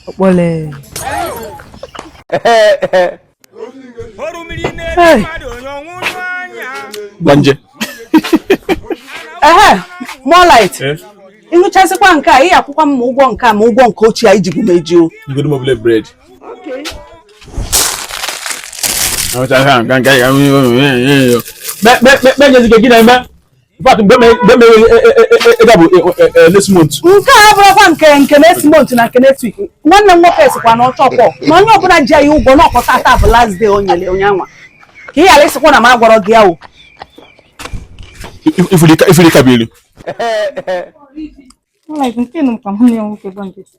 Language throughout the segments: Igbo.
ọkpọle Hey. gbanje ehe more light ịṅụchasịkwa nke a ị ya-akwụkwa m ma ụgwọ nke a ma ụgwọ nke ochie ahụ i jibu m eji o igodo mobile bread Kpe- kpe- kpe- kpe nyezi gị na-eme But mgbe mere ịga bụ next month. Nke a abụrụkwa nke nke next month na nke next week. Nwanne m nwoke sikwa na ọchọ kpọ na onye ọbụla ji ya ụgwọ na ọ kwa taa taa bụ last day o nyere onye anwa. Ka ị ghara ịsịkwa na m agwarọ gị ya o. Ị fụlụ Kabiru. Like nke nụ ka nwanne m nwoke gba nkịtị.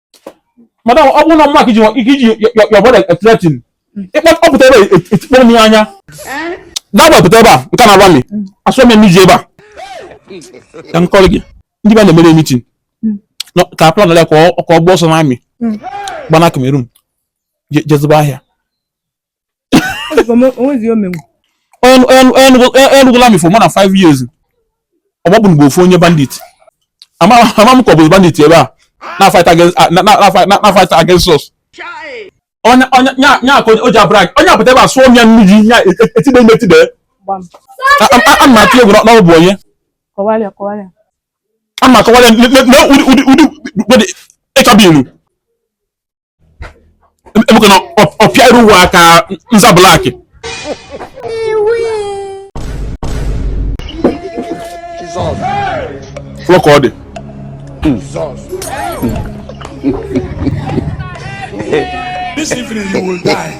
madam ọ bụrụ na ọ maka iji your brother e-threaten ị kpọpụta ebe a etikpọọ m ya anya nya gbapụta ebe a nke na-agwa m asụọ m emiji ebe a ka m kọrọ gị ndị be anyị mere meeting ka a planara ka ọ gbaa ọsọ n'army gbana Cameroon je zụba ahịa anọgo n'army for more than five years ọgbọgbụ mgbe ofu onye bandit ama m ka ọ bụ bandit ebe a na-fight against us nya ka o ji a-brag onye a pụta ebe a asụọ m ya nnu ji ya etide ime etide a ma atụ egwu na ọ bụ onye a ma akọwara ya na ụdị ịchọba ilu emeka na ọ pịa iru ụwa ka nza black ị fụlụ ka ọ dị This evening you will die.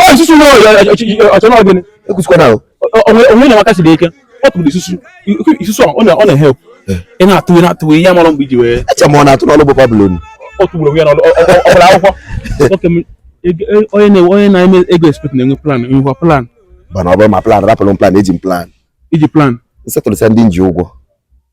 ọ isusu na ọ chọ na ọ gịnị ekwusikwana onwe na nwaka si dị ike ọ tụrụ isusu isusu ọ na-e-help ị na-atụ ị na-atụ ya ị marọ mgbe i ji wee eche ma ọ na-atụ n'ọlụ bụ Pablo ọ tụgburu onwe ya n'ọlụ ọ gbara akwụkwọ onye na-eme ego expect na-enwe plan enwekwa plan mana ọ bụrụ ma plan rapụrụ m plan eji m plan iji plan settle-sịa ndị m ji ụgwọ